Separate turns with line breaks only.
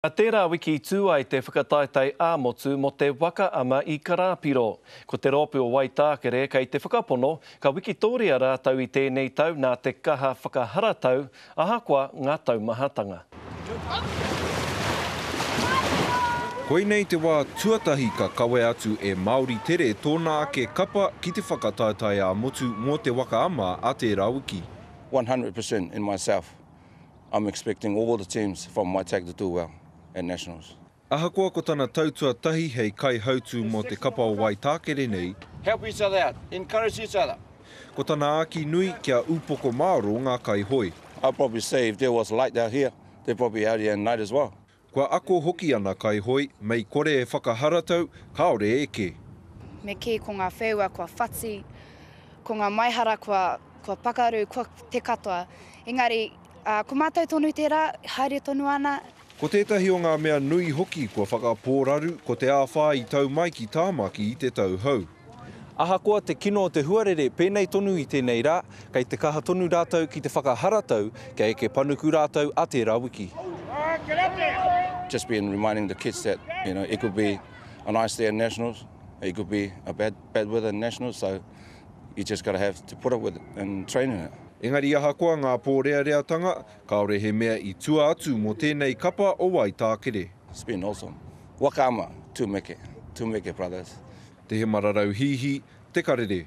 Nā tērā wiki i tū ai te whakataetae ā-motu mō te waka ama i Karāpiro. Ko te rōpū o Waitākere kei te whakapono ka wikitōria rātou i tēnei tau nā te kaha whakaharatau ahakoa ngā taumahatanga.
Koinei te wā tuatahi ka kawe atu e Māori Tere tōna ake kapa ki te whakataetae ā-motu mō te waka ama a tērā wiki. 100 per cent
in myself. I'm expecting all the teams from my tag to do well at Nationals. Ahakoa ko tana
tau tuatahi hei kaihautū mō te kapa o Waitākere nei, Help each other out,
encourage each other. ko tana āki
nui kia ūpoko māro ngā kaihoe. I'd probably say if
there was light out here, they'd probably be out here at night as well. Kua ako hoki
ana Kaihoe, mei kore e whakaharatau, kaore eke. Me kī, ko
ngā wheua kua whati, ko ngā maihara kua, kua pakaru, kua te katoa. Engari, ā, ko mātou tonu tērā, haere tonu ana. Ko tētahi o
ngā mea nui hoki kua whakapōraru, ko te āwhā i tau mai ki Tāmaki i te tau hou. Ahakoa te
kino o te huarere pēnei tonu i tēnei rā, kei te kaha tonu rātou ki te whakaharatau kia eke panuku rātou ā tērā wiki.
Just been reminding the kids that you know it could be a nice day in nationals it could be a bad bad weather in nationals so you just got to have to put up with it and train in it. Engari ahakoa ngā
pōreareatanga, kāore he mea i tua atu mō tēnei kapa o Waitākere. It's been awesome.
Wakaama,
Tumeke, Tumeke
brothers.
Te
hemararau
hihi,
te
karere.